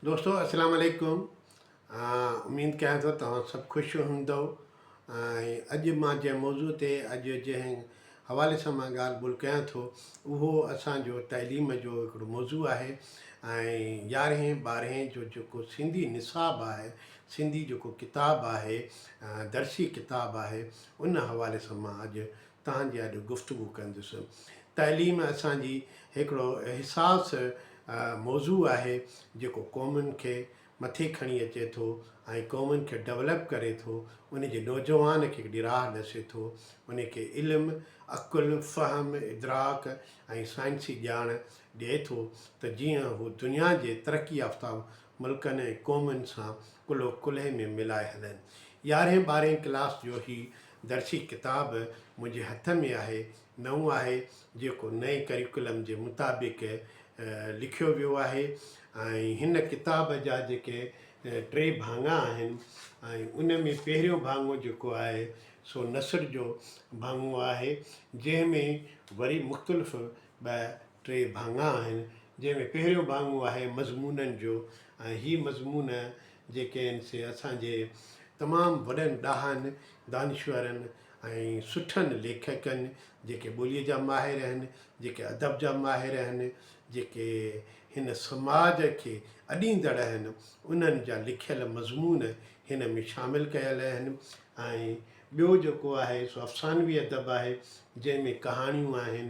دوستو السلام عليڪم اميد ڪيان ٿو توهان سڀ خوش هوندو ۽ اڄ مان جنهن موضوع تي اڄ جنهن حوالي سان مان ڳالهه ٻولهه ڪيان ٿو اهو اسان جو تعليم جو هڪڙو موضوع آهي ۽ يارهين ٻارهين جو جيڪو سنڌي نصاب آهي سنڌي جيڪو ڪتاب آهي درسي ڪتاب آهي ان حوالي سان مان اڄ توهان جي اڄ گفتگو ڪندس. تعليم اسان جي هڪڙو حساس موضوع آهي جيڪو قومن کي مٿي کڻي اچي ٿو ۽ قومن کي ڊولپ ڪري ٿو ان جي نوجوان کي هڪڙي راهه ڏسي ٿو ان کي علم، عقل، فهم، ادراڪ ۽ سائنسي ڄاڻ ڏئي ٿو ته جيئن هو دنيا جي ترقي يافته ملڪن ۽ قومن سان ڪلهو ڪلهي ۾ ملائي هلن. يارهين ٻارهين ڪلاس جو هي درسي ڪتاب منهنجي هٿ ۾ آهي، نئون آهي، جيڪو نئين ڪريڪولم جي مطابق لکيو ويو آهي ۽ هن ڪتاب جا جيڪي ٽي ڀاڱا آهن ۽ ان ۾ پهريون ڀاڱو جيڪو آهي سو نثر جو ڀاڱو آهي، جنهن ۾ وري مختلف ٻه ٽي ڀاڱا آهن، جنهن ۾ پهريون ڀاڱو آهي مضمونن جو ۽ هي مضمون جيڪي آهن سي اسان جي تمام وڏن ڏاهن، دانشورن ۽ سٺن ليکڪن جيڪي ٻوليء جا ماهر آهن، جيڪي ادب جا ماهر آهن، جيڪي هن سماج کي اڏيندڙ آهن، انهن جا لکيل مضمون هن ۾ شامل ڪيل آهن ۽ ٻيو جيڪو آهي سو افسانوي ادب آهي جنهن ۾ ڪهاڻيون آهن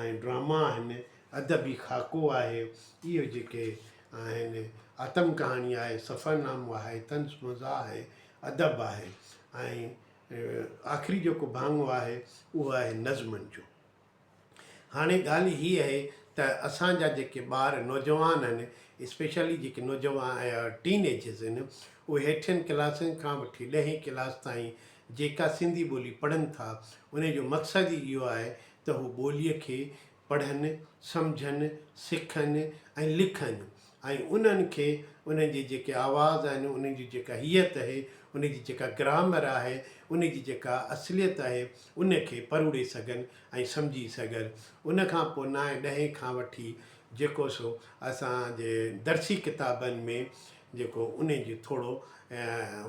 ۽ ڊراما آهن، ادبي خاڪو آهي، اهي جيڪي آهن، آتم ڪهاڻي آهي، سفرنامو آهي، طنز مزاح آهي، ادب آهي ۽ آخري جيڪو ڀاڱو آهي اهو آهي نظمن جو. هاڻي ڳالهه هي اهي ته اسان جا جيڪي ٻار نوجوان آهن اسپيشلي جيڪي نوجوان ٽين ايجز آهن اهي هيٺين ڪلاسن کان وٺي ڏهين ڪلاس تائين جيڪا سنڌي ٻولي پڙهن ٿا انهي جو مقصد ئي اهو آهي ته هو ٻولي کي پڙهن، سمجهن، سکن ۽ لکن ۽ انهن کي انهن جي جيڪي آواز آهن، انهن جي جيڪا هيئت اهي، انهن جي جيڪا گرامر آهي، انهن جي جيڪا اصليت آهي، ان کي پروڙي سگهن ۽ سمجهي سگهن. ان کان پوء نائين ڏهين کان وٺي جيڪو سو اسان جي درسي ڪتابن ۾ جيڪو انهن جي ٿورو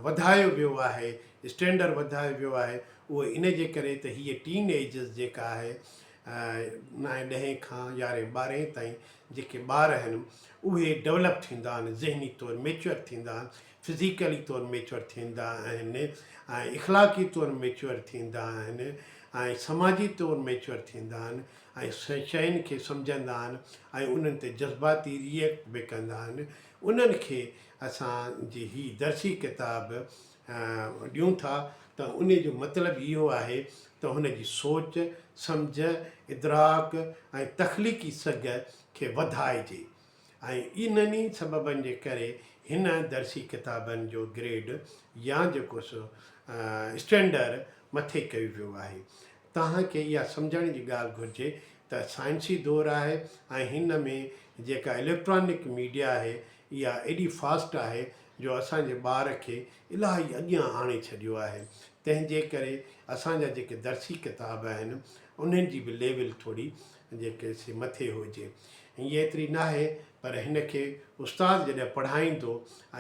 وڌايو ويو آهي، اسٽينڊر وڌايو ويو آهي، اهو ان جي ڪري ته هيء ٽين ايجز جيڪا آهي، نائين ڏهين کان يارهين ٻارهين تائين جيڪي ٻار آهن اهي ڊولپ ٿيندا آهن ذهني طور ميچوئر ٿيندا آهن فزيڪلي طور ميچوئر ٿيندا آهن ۽ اخلاقي طور ميچوئر ٿيندا آهن ۽ سماجي طور ميچوئر ٿيندا آهن ۽ شين کي سمجهندا آهن ۽ انهن تي جذباتي ريئڪٽ به ڪندا آهن انهن کي اسان جي هي درسي ڪتاب ڏيون ٿا ته انهي جو مطلب اهو آهي ته هن جي سوچ، سمجهه، ادراڪ ۽ تخليقي سگهه کي وڌائجي ۽ انهن ئي سببن جي ڪري هن درسي ڪتابن جو گريڊ يا جيڪو سو اسٽينڊر مٿي ڪيو ويو آهي. توهان کي اها سمجهڻ جي ڳالهه گهرجي ته سائنسي دور آهي ۽ هن ۾ جيڪا اليڪٽرانڪ ميڊيا آهي اها ايڏي فاسٽ آهي جو اسان جي ٻار کي الاهي اڳيان آڻي ڇڏيو آهي تنهن جي ڪري اسان جا جيڪي درسي ڪتاب آهن انهن جي به ليول ٿوري جيڪي سي مٿي هجي هيء ايتري ناهي پر هن کي استاد جڏهن پڙهائيندو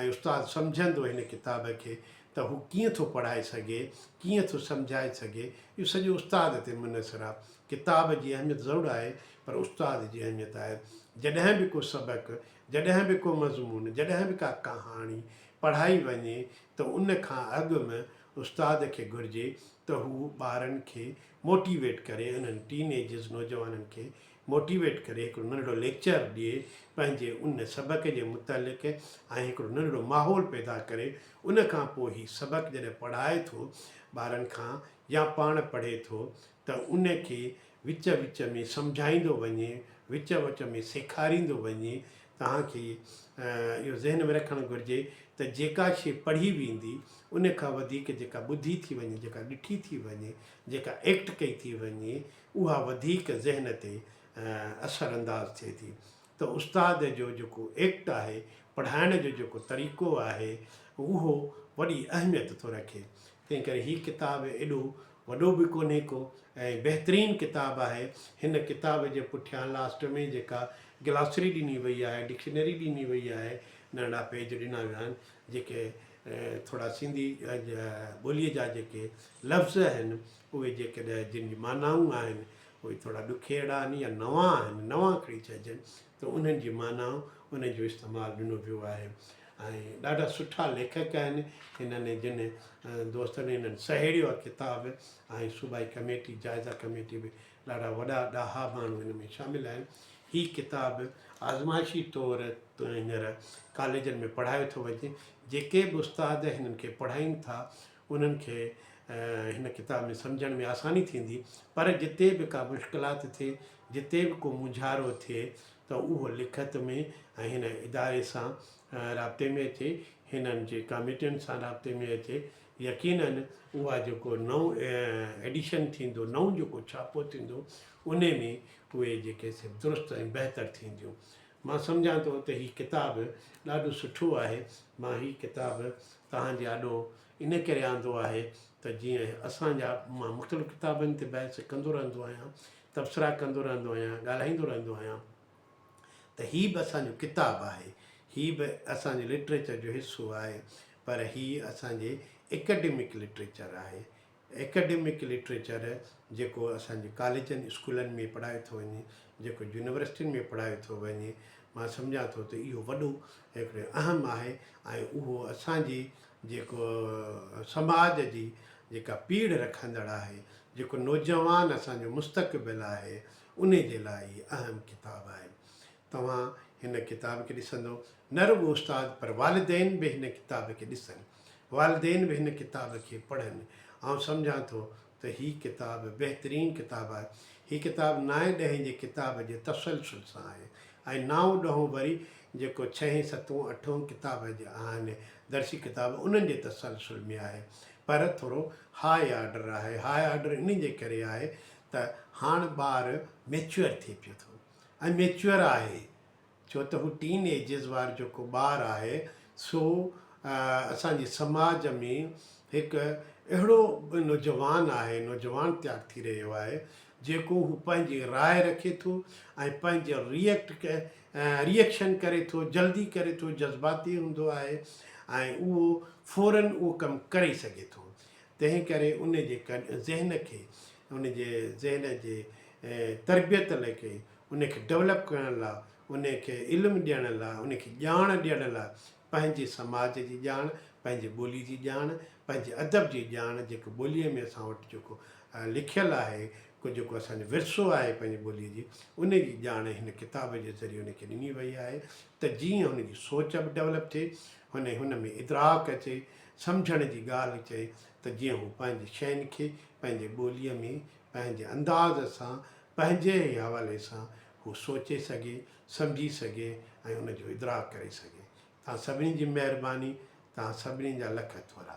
۽ استاد سمجهندو هن ڪتاب کي ته هو ڪيئن ٿو پڙهائي سگهي، ڪيئن ٿو سمجهائي سگهي، اهو سڄو استاد تي منحصر آهي. ڪتاب جي اهميت ضرور آهي پر استاد جي اهميت آهي. جڏهن به ڪو سبق، جڏهن به ڪو مضمون، جڏهن به ڪا ڪهاڻي پڙهائي وڃي ته ان کان اڳ ۾ استاد کي گهرجي ته هو ٻارن کي موٽيويٽ ڪري، انهن ٽين ايجز نوجوانن کي موٽيويٽ ڪري هڪڙو ننڍڙو ليڪچر ڏئي پنهنجي ان سبق جي متعلق ۽ هڪڙو ننڍڙو ماحول پيدا ڪري ان کان پوء هي سبق جڏهن پڙهائي ٿو ٻارن کان يا پاڻ پڙهي ٿو ته ان کي وچ وچ ۾ سمجهائيندو وڃي وچ وچ ۾ سيکاريندو وڃي توهان کي اهو ذهن ۾ رکڻ گهرجي ته جيڪا شي پڙهي ويندي ان کان وڌيڪ جيڪا ٻڌي ٿي وڃي جيڪا ڏٺي ٿي وڃي جيڪا ايڪٽ ڪئي ٿي وڃي اها وڌيڪ ذهن تي اثر انداز ٿئي ٿي ته استاد جو جيڪو ايڪٽ آهي، پڙهائڻ جو جيڪو طريقو آهي، اهو وڏي اهميت ٿو رکي. تنهن ڪري هي ڪتاب ايڏو وڏو به ڪونهي ڪو ۽ بهترين ڪتاب آهي. هن ڪتاب جي پٺيان لاسٽ ۾ جيڪا گلاسري ڏني وئي آهي، ڊڪشنري ڏني وئي آهي، ننڍا پيج ڏنا ويا آهن، جيڪي ٿورا سنڌي ٻوليء جا جيڪي لفظ آهن، اهي جيڪڏهن جن جون معنائون آهن اهي ٿورا ڏکيئڙا آهن يا نوان آهن، نوان کڻي چئجن ته انهن جي معنائون انهن جو استعمال ڏنو ويو آهي ۽ ڏاڍا سٺا ليکڪ آهن هنن ۽ جن دوستن هنن سهيڙيو آهي ڪتاب ۽ صوبائي ڪميٽي جائزه ڪميٽي به ڏاڍا وڏا ڏاها ماڻهو هن ۾ شامل آهن هي ڪتاب آزمائشي طور هينئر ڪاليجن ۾ پڙهايو ٿو وڃي جيڪي به استاد هنن کي پڙهائين ٿا انهن کي هن ڪتاب ۾ سمجهڻ ۾ آساني ٿيندي پر جتي به ڪا مشڪلات ٿئي جتي به ڪو مونجهارو ٿئي ته اهو لکت ۾ ۽ هن اداري سان رابطي ۾ اچي هنن جي ڪاميٽين سان رابطي ۾ اچي يقينن اها جيڪو نئون ايڊيشن ٿيندو نئون جيڪو ڇاپو ٿيندو انهي ۾ اهي جيڪي سي درست ۽ بهتر ٿينديون مان سمجهان ٿو ته هي ڪتاب ڏاڍو سٺو آهي. مان هي ڪتاب توهان جي آڏو ان ڪري آندو آهي ته جيئن اسان جا مان مختلف ڪتابن تي بحث ڪندو رهندو آهيان، تبصرا ڪندو رهندو آهيان، ڳالهائيندو رهندو آهيان ته هي به اسان جو ڪتاب آهي، هي به اسان جي لٽريچر جو حصو آهي پر هي اسان جي اڪيڊمڪ لٽريچر آهي، ايڪڊمڪ لٽريچر جيڪو اسان جي ڪاليجن اسڪولن ۾ پڙهايو ٿو وڃي، جيڪو يونيورسٽين ۾ پڙهايو ٿو وڃي، مان سمجهان ٿو ته اهو وڏو هڪڙو اهم آهي ۽ اهو اسان جي جيڪو سماج جي جيڪا پيڙهه رکندڙ آهي، جيڪو نوجوان اسان جو مستقبل آهي، انهي جي لاء هي اهم ڪتاب آهي. توهان هن ڪتاب کي ڏسندو نه رڳو استاد پر والدين به هن ڪتاب کي ڏسن والدين به هن ڪتاب کي پڙهن آئون سمجهان ٿو ته هي ڪتاب بهترين ڪتاب آهي هي ڪتاب نائين ڏهين جي ڪتاب جي تسلسل سان آهي ۽ نائون ڏهون وري جيڪو ڇهين ستون اٺون ڪتاب جي آهن درسي ڪتاب انهن جي تسلسل ۾ آهي پر ٿورو هاء آرڊر آهي هاء آرڊر انهي جي ڪري آهي ته هاڻ ٻار ميچوئر ٿئي پيو ٿو ۽ ميچوئر آهي ڇو ته هو ٽين ايجز وار جيڪو ٻار آهي سو اسان جي سماج ۾ هڪ اهڙو نوجوان آهي نوجوان تيار ٿي رهيو آهي جيڪو هو پنهنجي راء رکي ٿو ۽ پنهنجي ريئڪٽ ريئڪشن ڪري ٿو جلدي ڪري ٿو جذباتي هوندو آهي ۽ اهو فورن اهو ڪم ڪري سگهي ٿو تنهن ڪري ان جي ذهن کي ان جي ذهن جي تربيت لئي ڪئي ان کي ڊولپ ڪرڻ لاء ان کي علم ڏيڻ لاء ان کي ڄاڻ ڏيڻ لاء پنهنجي سماج جي ڄاڻ پنهنجي ٻولي جي ڄاڻ پنهنجي ادب جي ڄاڻ جيڪو ٻوليء ۾ اسان وٽ جيڪو لکيل آهي ڪو جيڪو اسانجو ورثو آهي پنهنجي ٻوليء جي ان جي ڄاڻ هن ڪتاب جي ذريعي ان کي ڏني وئي آهي ته جيئن هن جي سوچ به ڊولپ ٿئي هن هن ۾ ادراڪ اچي سمجهڻ جي ڳالهه چئي ته جيئن هو پنهنجي شين کي پنهنجي ٻوليء ۾ پنهنجي انداز سان پنهنجي ئي حوالي سان هو سوچي سگهي، سمجهي سگهي ۽ ان جو ادراڪ ڪري سگهي. توهان سڀني جي مهرباني، توهان سڀني جا لک ٿورا.